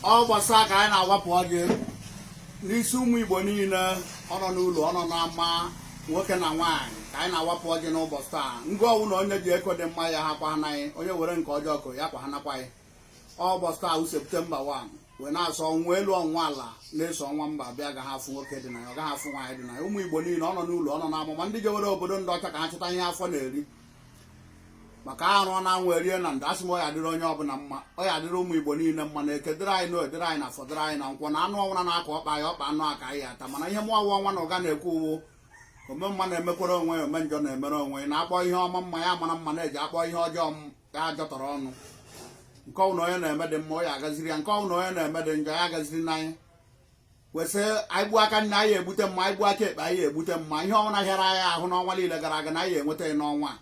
ụbọchị taa ka anyị na-agwapụ ọjị n'isi ụmụ igbo niile ọ nọ n'ụlọ ọ nọ n'ama nwoke na nwaanyị ka anyị na-awapụ ọjị n'ụbọchị taa nke ọwụna onye ji eko dị mma ya ha kwa anaghị onye were nke ọjọọ kụrụ ya kwa ha nakwaghị ụbọchị taa wụ septemba 1 wee na-asị ọnwa elu ọnwa ala na-eso ọnwa mba bịa agaghị afụ nwoke dị na ya ọ gaghị afụ nwaanyị dị na ya ụmụ igbo niile ọ nọ n'ụlọ ọ nọ n'ama ma ndị jewere obodo ndị ọcha ka ha chọta ihe afọ na-eri maka arụọ na anwụ erie na ndo asị m ọya dịrị onye ọbụla mma ọya dịrị ụmụ igbo niile mma na eke dịrị anyị na orie dịrị anyị na afọ dịrị anyị na nkwọ na anụ ọwụna na-akọ ọkpa ya ọkpa anụ aka anyị ata mana ihe mụwa ọnwa na ụga na-ekwu wụ ome mma na-emekwere onwe ya ome njọ na-emere onwe na-akpọ ihe ọma mma ya mara mma na-eji akpọ ihe ọjọọ ya ajọtọrọ ọnụ nke ọwụna onye na-eme dị mma ọ ya agaziri ya nke ọwụna onye na-eme dị njọ ya agazirina ya wee sị anyị gbuo aka nri anyị egbute mma anyị gbuo aka ekpe anyị egbute mma ihe ọwụna hịara anyị ahụ n'ọnwa niile gara aga na anyị enweta ya n'ọnwa a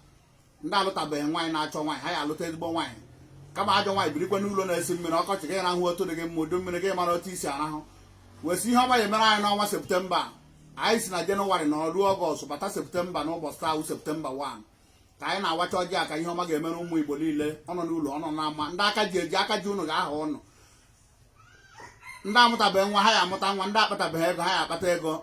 ndị alụtabeghị nwaanyị na-achọ nwaanyị ha ya alụta ezigbo nwaanyị kama ajọ nwaanyị birikwa n'ụlọ na-esi mmiri ọkọchị gị rahụ otu dị gị mma udu mmiri gị mara otu i si arahụ wee sị ihe ọma ya emere anyị n'ọnwa septemba anyị si na jenụwarị nọrọ ruo ọgọst bata septemba na ụbọchị a wụ septemba 1 ka anyị na-awacha ọjị a ka ihe ọma ga-emere ụmụ igbo niile ọnọ n'ụlọ ọnọ n'ama ndị aka ji eji aka ji ụnụ ga-aha ụnụ ndị amụtabeghị nwa ha ya amụta nwa ndị akpatabeghị ego ha ya akpata ego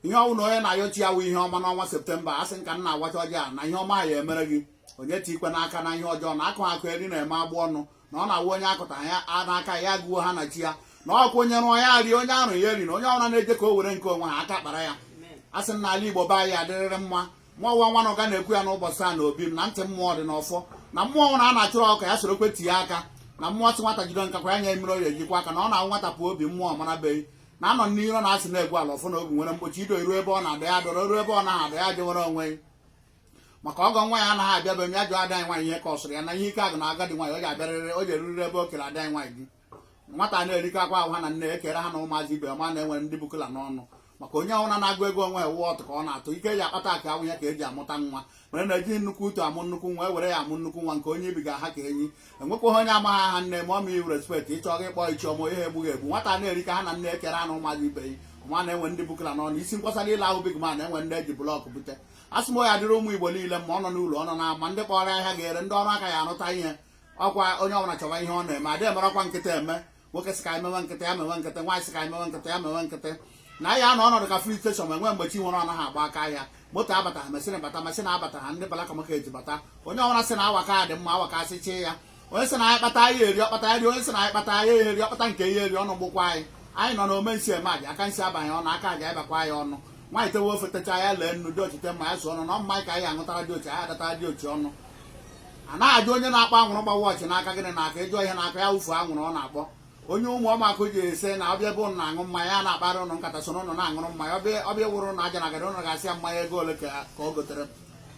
ihe ọwụna onye na-ayọ chi ya wụ ihe ọma n'ọnwa septemba asị m ka m na-agwacha ọjị a na ihe ọma ya emere gị onye etikwena aka na ihe ọjọọ na akụ akụ eri na-eme agbụ ọnụ na ọ na-awụ onye akụta ya n'aka ya gụo ha na chi ya na ọkụ onye rụọ ya rie onye arụ ya eri na onye ọwụna na-eje ka o were nke o nweghị aka kpara ya asị m na ala igbo be anyị adịrịrị mma mụwa ọnwa na ụga na-ekwu ya n'ụbọchị a na obi m na ntị mmụọ dị n'ọfọ na mmụọ ọwụna a na-achụrụ ọka ya sorokwe tinye aka na mmụọ sị nwata jide nkakwụ ya nye mmiri ọ ya eji kwọọ aka na ọ na-awụ nwata pụọ obi mmụọ marabeghị na anọ n'iro na-asị na-egwu ala ọfọ na obi nwere mgbochi ido iru ebe ọ na-ada ya doro iru ebe ọ naghị ada ya jewere onwe maka ọgọ ọwụna anaghị abịa be m ya jụọ ada anyị nwaanyị ihe ka ọ sụrụ ya na ihe ike agwụna agadi nwaanyị ọ ga-abịarịrị o jeruriri ebe o kere ada anyị nwaanyị gị nwata na-erikọ akwa ahụ ha na nne ekere ha na ụmụazị ibe ma na-enwere ndị bukula n'ọnụ maka onye ọwụna na-agụ ego onwe ewu ọtụ ka ọ na-atụ ike eji akpata akụ awụghị ya ka eji amụta nwa mere na-eji nnukwu utu amụ nnukwu nwa e were ya amụ nnukwu nwa nke onye ibiga ha ka enyi enwekwaghị onye amaghị aha nne ma ọ ma iwu respect ịchọghị ịkpọ ichiọma ihe egbughị egbu nwata na-eri ka ha na nne ekere anụ ụmụazị ibe ya ma na-enwe ndị bukala n'ọnụ isi nkwasara ile ahụ big man enwe ndị eji blọkụ bute asị m ya dịrị ụmụ igbo niile ma ọ nọ n'ụlọ ọ nọ na ama ndị kpọrọ ahịa ga-ere ndị ọrụ aka ya arụta ihe ọkwa onye ọbụla chọwa ihe ọ na-eme adịghị emere ọkwa nkịta eme nwoke sị ka anyị mewe nkịta ya mewe nkịta nwaanyị sị ka anyị mewe nkịta ya mewe nkịta na ya anọ ọnọdụ ka filling station ma enwe mgbe chi nwere ọ naghị agba aka ahịa moto abataghị masịn bata masịn abataghị ndị black market eji bata onye ọbụla sị na awaka dị mma awaka asị chee ya onye sị na anyị kpata anyị eri ọ kpata ya rie onye sị na anyị kpata anyị eri ọ kpata nke ya eri ọnụ gbụkwa anyị anyị nọ na ome nsi eme aja aka nsi abanye ọnụ aka aja anyị bakwa anyị ọnụ nwaanyị tewe ofe techa ya lee nnu diochi tee mmanya sụ ọnụ na ọ wụ mmanya ka anyị aṅụtara diochi anyị adatara diochi ọnụ a na-ajụ onye na-akpọ anwụrụ gba wọchị n'aka gịnị na-akụ ịjụ ihe na-akụ ya wụfuo anwụrụ ọ na-akpọ onye Ụmụọmakụ ji ese na ọbịa bụ na aṅụ mmanya a na-akpara ụnụ nkata so n'ụnụ na-aṅụrụ mmanya ọbịa wụrụ na aja na agara ụnụ ga-asị ya mmanya ego ole ka ọ gotere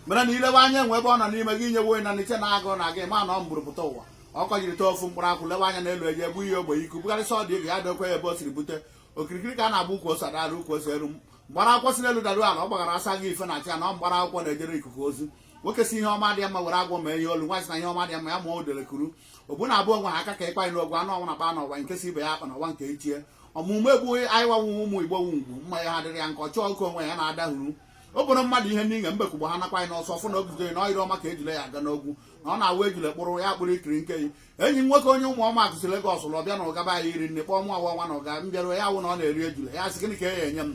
mere na ilewe anya enwe ebe ọ nọ n'ime gị inyewe onye na n'iche na-agụ na gị ma na ọ mbụrụ pụta ụwa ọ kọjiri tee ofu mkpụrụ akwụ lewe anya n'elu eji egbu ihe ogbe iku bụkarịsị ọ dị ego ya dokwe ya ebe o siri bute okirikiri ka a na-agba ukwu ose ada arị ukwu ose elu mgbara akwụkwọ si n'elu daru ala ọ gbagara asa gị ife na achị ya na ọ mgbara akwụkwọ na-ejere ikuku ozi nwoke sị ihe ọma dị ya mma were agwọ ma ihe olu nwaanyị sị na ihe ọma dị mma ya ma o dere kuru ogbu na abụọ nwe ha aka ka ịkwa anyị n'ogwu anụ ọnwa na kpa n'ọwa nke si ibe ya akpa n'ọwa nke ichie ọmụmụ egbughị anyị wanwụ ụmụ igbo nwu ugwu mma ya ha dịrị ya nke ọchọ ọkụ onwe ya na-adahuru o bụrụ mmadụ ihe niile mbekugbo ha nakwa anyị n'ọsọ fụ na oguzoghi na ọ ire ọma ka ejule ji aga n'ogwu na ọ na-awụ ejule kpụrụ ya kpụrụ ikirike ya enyi nwoke onye Ụmụọmakụ si Legọs lọọ bịa na ụga be anyị iri nri kpọọ mụ ọwa nwa na ụga m bịaruo ya wụ na ọ na-eri ejula ya sị gịnị ka e nye m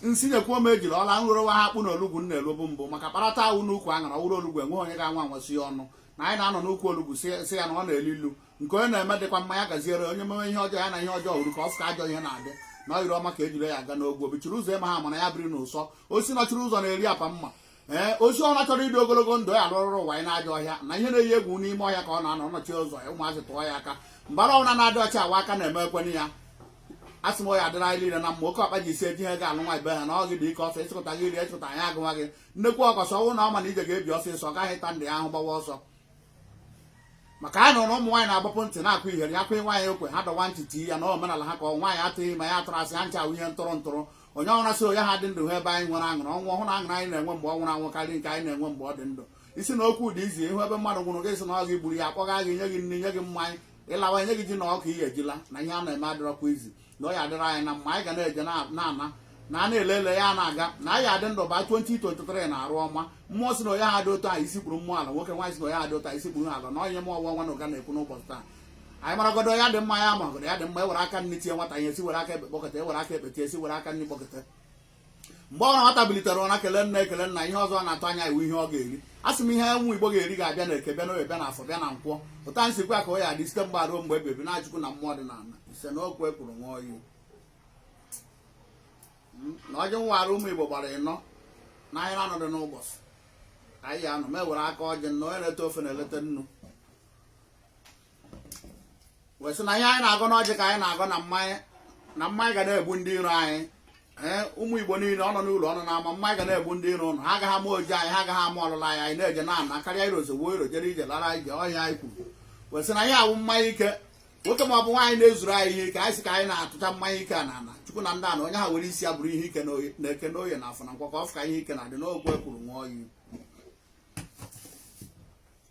nsi nyekwuo m ejula ọla nrụrụwa ha akpụ na olugbu m na-elobu mbụ maka kparata awụ n'ukwu aṅara ọ wụrụ olugbu enwe onye ga-anwa anwasị ya ọnụ na anyị na-anọ n'ukwu olugbu sị ya na ọ na-elu ilu nke onye na-eme dịkwa mma ya gaziere onye meme ihe ọjọọ ya na ihe ọjọọ hụrụ ka ọ fụka ajọ ihe na-adị na ọ ire ọma ka ejula ji aga n'ogwu o bichiri ụzọ ịma ha mana ya biri n'ụsọ osisi nọchiri ụzọ na-eri apa mma ee osisi ọbụla chọrọ ịdị ogologo ndụ ya alụrụrụ nwayọ n'ajọ ọhịa na ihe na-eyi egwu n'ime ọhịa ka ọ na-anọ nọchie ụzọ ya ụmụazị tụọ ya aka mbara ọbụla na-adị ọcha ọ wụ aka na-eme ekwenye ya a sị m ya adịrị anyị niile na mma oke ọkpa ji isi eji ihe ga-alụ nwa ibe ha na ọ gị dị ike ọsọ ịchịkọta gị iri ịchịkọta anyị agwa gị nnekwu ọkọsọ ọnwụ na ọ ma na ije ga-ebi ọsịsọ ọ gaghị ta ndị ahụ gbawa ọsọ maka anyị nụrụ ụmụ nwaanyị na-agbapu ntị na-akụ ihere ya kwụghị nwaanyị okwe ha dọwa ntị tii ya na omenala ha ka ọ nwaanyị atụghị ime ya atụrụ asị ha ncha wụ ihe ntụrụ ntụrụ onye ara sị onye ha dị ndụ ha ebe anyị nwere aṅụrị ọnwụ ọhụrụ aṅụrị anyị na-enwe mgbe ọ nwụrụ anwụ karịa nke anyị na-enwe mgbe ọ dị ndụ ị sị na okwu dị izi ị hụ ebe mmadụ nwụrụ gị sị na ọ gị gburu ya akpọga gị nye gị nri nye gị mmanya ị lawa nye gị ji na ọka ị ya-eji la na ihe a na-eme adịrọkwa izi na ọ ya adịrị anyị na mma anyị ga na-eje na-ana na a na-ele ele ya na-aga na anyị ya-adị ndụ ba 2023 na arụ ọma mmụọ sị na onye ha dị otu anyị isi kpuru mmụọ ala nwoke nwaanyị sị na onye ha dị otu anyị isi kpuru ala na onye m ọwa nwa na ụga na-ekwu n'ụbọchị taa anyị maragodu ya dị mma ya magodu ya dị mma ewere aka nri tie nwata ya esi were aka ekpe kpọkọta ewere aka ekpe tie esi were aka nri kpọkọta mgbe ọ nwata bilitere ụra kele nna ekele nna ihe ọzọ na-atụ anya ya wụ ihe ọ ga-eri a sị m ihe ụmụ igbo ga-eri ga-abịa na eke bịa n'oye bịa na afọ bịa na nkwọ otu a m sịkwa ka ọ ya-adị site mgbe a ruo mgbe ebighi ebi n'aha chukwu na mmụọ dị na ala ise na okwu ekwuru nwa oyi hmm, na ọjị m wara ụmụ igbo gbara ịnọ na ahịa anọ dị n'ụbọchị anyị ya anọ m ewere aka ọjị na onye na-ete ofe na-eleta nnu wee sị na ihe anyị na-agọ n'ọjị ka anyị na-agọ na mmanya na mmanya ga na-egbu ndị iro anyị ee ụmụ igbo niile ọ nọ n'ụlọ ọ nọ n'ama mmanya ga na-egbu ndị iro ụnụ ha agaghị ama ojije anyị ha agaghị ama ọlịla anyị anyị na-eje na ana karịa iro ozugbo iro jere ije lara ije ọhịa anyị kwuru wee sị na ihe a wụ mmanya ike nwoke ma ọ bụ nwaanyị na-ezuru anyị ihe ike anyị sị ka anyị na-atụcha mmanya ike a na ana chukwu na ndị ana onye ahụ were isi ya buru ihe ike n'eke n'oye na afọ na nkwọ ka ọ fụ ka ihe ike na-adị n'okwu ekwuru nwa oyi